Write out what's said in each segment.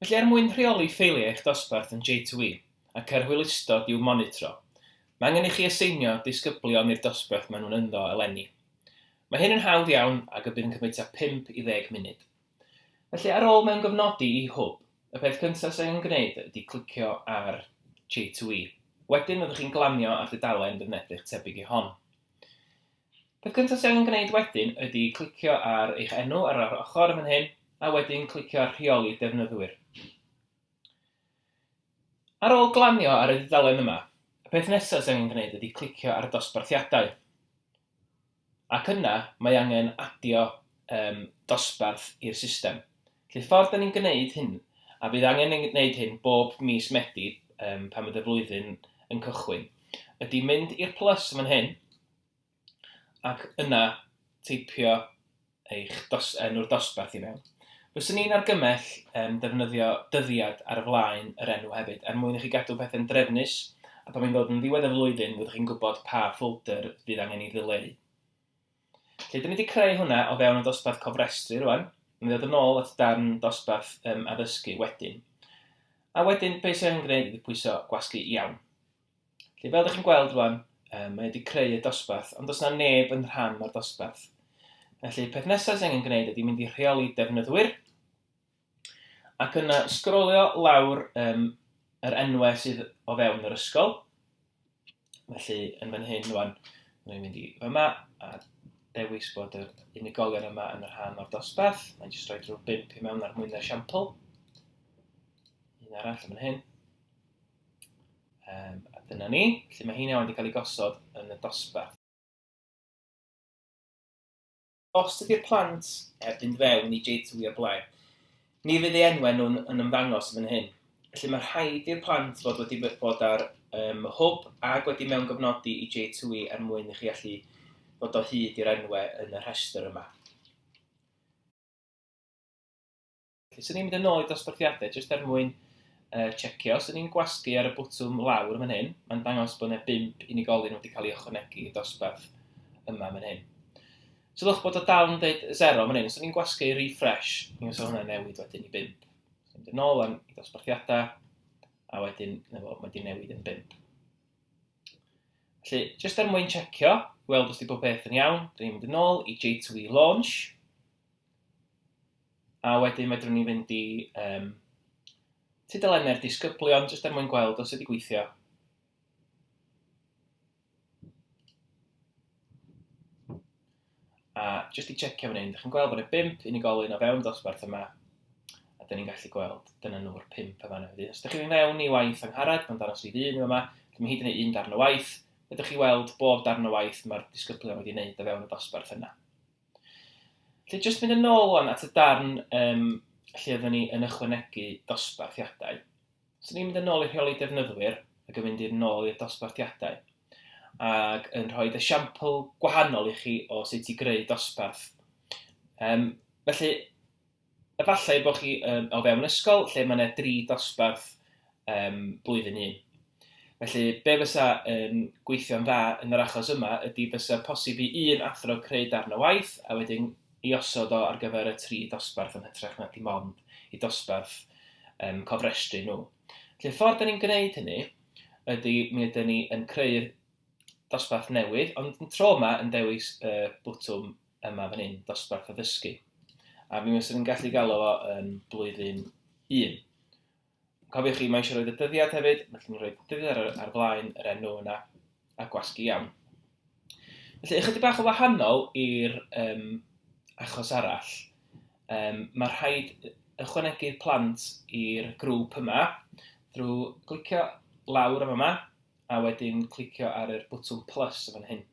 Felly er mwyn rheoli ffeiliau eich dosbarth yn J2E ac er hwylustod i'w monitro, mae angen i chi aseinio disgyblion i'r dosbarth maen nhw'n ynddo eleni. Mae hyn yn hawdd iawn ac y bydd yn cymryd tua 5 i ddeg munud. Felly ar ôl mewngofnodi i Hwb, y peth cyntaf sydd angen gwneud ydy clicio ar J2E. Wedyn fyddwch chi'n glanio ar dudalen defnedrych tebyg i hon. Peth cyntaf ti angen gwneud wedyn ydy clicio ar eich enw ar yr ochr yn fan hyn, a wedyn clicio ar Rheoli Defnyddwyr. Ar ôl glanio ar y dudalen yma, y peth nesaf ti angen gwneud ydy clicio ar Dosbarthiadau. Ac yna, mae angen adio um, dosbarth i'r system. Felly, ffordd da ni'n gwneud hyn, a bydd angen gwneud hyn bob mis Medi um, pan bydd y flwyddyn yn cychwyn, ydy mynd i'r plus yn fan hyn, ac yna teipio eich dos, enw'r dosbarth i mewn. Fyswn i'n argymell um, defnyddio dyddiad ar y flaen yr enw hefyd, er mwyn i chi gadw pethau'n drefnus, a pan mae'n dod yn ddiwedd y flwyddyn, fyddwch chi'n gwybod pa ffolder fydd angen i ddileu. Lle, dyn ni wedi creu hwnna o fewn y dosbarth cofrestru rwan, mi ddod yn ôl at darn dosbarth um, addysgu wedyn. A wedyn, beth sy'n angen gwneud ydy pwyso gwasgu iawn. Felly, fel ydych chi'n gweld rwan, um, mae wedi creu y dosbarth, ond does yna neb yn rhan o'r dosbarth. Felly, peth nesaf sy'n angen gwneud ydy mynd i rheoli defnyddwyr, ac yna sgrolio lawr um, yr enwau sydd o fewn yr ysgol. Felly, yn fan hyn rwan, mae'n mynd i fyma, a dewis bod yr unigolion yma yn rhan o'r dosbarth. Mae'n jyst rhoi drwy bimp i mewn ar mwyn yr siampl. Un arall yn fan hyn. Um, a dyna ni, lle mae hynny wedi cael ei gosod yn y dosbarth. Os ydy'r plant heb fynd fewn i J2 o'r blaen, ni fydd ei enwau nhw'n yn ymddangos yn hyn. Felly mae rhaid i'r plant fod wedi bod ar um, hwb ac wedi mewn gofnodi i J2 er mwyn i chi allu bod o hyd i'r enwau yn y rhestr yma. Felly, swn i'n mynd yn ôl i dosbarthiadau jyst er mwyn uh, checio. Swn i'n gwasgu ar y bwtwm lawr yn fan hyn. Mae'n dangos bod yna bimp unigolyn wedi cael ei ychwanegu i dosbarth yma yn fan hyn. Sylwch bod o dal yn dweud 0 fan hyn. Swn i'n gwasgu i refresh. Ni'n sôn hwnna'n newid wedyn i bimp. Swn i'n mynd yn ôl am i dosbarthiadau a wedyn mae wedi newid yn bimp. Felly, jyst er mwyn checio, weld os di pob peth yn iawn, dyn ni'n mynd yn ôl i J2E Launch. A wedyn fedrwn ni fynd i um, tudalennau'r disgyblion, jyst er mwyn gweld os ydy gweithio. A jyst i checio fan hyn, ydych chi'n gweld bod yna bimp unigolyn o fewn dosbarth yma, a dyn ni'n gallu gweld, dyna nhw'r pimp yma yna. Os ydych chi'n mynd mewn i waith angharad, mae'n danos i ddyn yma, dyma mae hyd yn ei un darn o waith, ydych chi weld bob darn o waith mae'r disgyblion wedi wneud o fewn y dosbarth yna. Felly, jyst mynd yn ôl o'n at y darn um, lle oeddwn ni yn ychwanegu dosbarthiadau. So ni'n mynd yn ôl i'r rheoli defnyddwyr ac yn mynd i'r nôl i'r dosbarthiadau ac yn rhoi esiampl gwahanol i chi o sut i greu dosbarth. Um, felly, Efallai bod chi o fewn ysgol lle mae yna dri dosbarth blwyddyn un. Felly, be fysa yn gweithio'n dda yn yr achos yma ydy fysa posib i un athro creu darn o waith a wedyn i osod o ar gyfer y tri dosbarth yn hytrach na dim ond i dosbarth um, cofrestru nhw. Felly, y ffordd da ni'n gwneud hynny ydy mi ydyn ni yn creu'r dosbarth newydd, ond yn tro yma yn dewis y bwtwm yma fan hyn, dosbarth addysgu. A mi wastad yn gallu galw fo yn blwyddyn 1. Cofiwch chi, mae eisiau rhoi y dyddiad hefyd, felly ni'n rhoi dyddiad ar, ar flaen yr enw yna, a gwasgu iawn. Felly, ychydig bach o wahanol i'r um, achos arall, um, mae rhaid ychwanegu'r plant i'r grŵp yma drwy glicio lawr am yma, a wedyn clicio ar yr bwtwm plus yn fan hyn.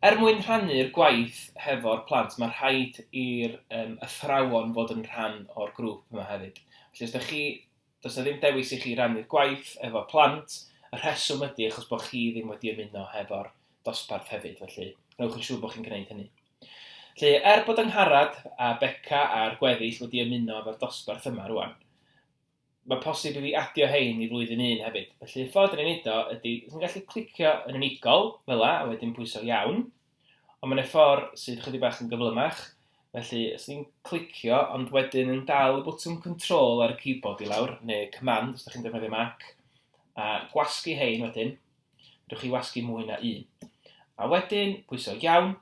Er mwyn rhannu'r gwaith hefo'r plant, mae rhaid i'r um, athrawon fod yn rhan o'r grŵp yma hefyd. Felly os da chi, does na ddim dewis i chi rannu'r gwaith efo plant, y rheswm ydy achos bod chi ddim wedi ymuno hefo'r dosbarth hefyd, felly rhywch yn siŵr bod chi'n gwneud hynny. Felly, er bod yng Ngharad a Beca a'r gweddill wedi ymuno efo'r dosbarth yma rwan, Mae posib i fi adio hein i flwyddyn un hefyd. Felly y ffordd rwy'n neud o ydy, rwy'n gallu clicio yn unigol, fel a, a wedyn pwyso iawn. Ond mae'n ffordd sydd chydig bach yn gyflymach. Felly, os ni'n clicio, ond wedyn yn dal y bwtwm control ar y keyboard i lawr, neu command os ydych chi'n defnyddio Mac, a gwasgu hein wedyn, rwy'n chi wasgu mwy na un. A wedyn, pwyso iawn,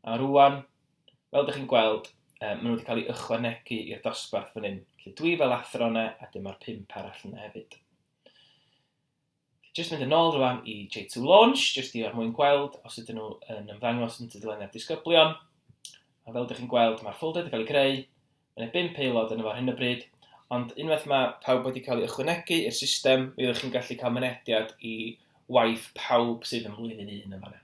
A rwan, fel dych chi'n gweld, um, maen nhw wedi cael ei ychwanegu i'r dosbarth fan hyn. Felly dwi fel athro yna, a dyma'r pimp arall yna hefyd. Just mynd yn ôl rwan i J2 Launch, just i ar mwyn gweld os ydyn nhw yn ymddangos yn tudalennau'r disgyblion. A fel dych chi'n gweld, mae'r ffolder wedi cael ei greu, mae'n bum peilod yn efo'r hyn o bryd, ond unwaith mae pawb wedi cael ei ychwanegu i'r system, mi ydych chi'n gallu cael mynediad i waith pawb sydd yn flwyddyn un yn fanna.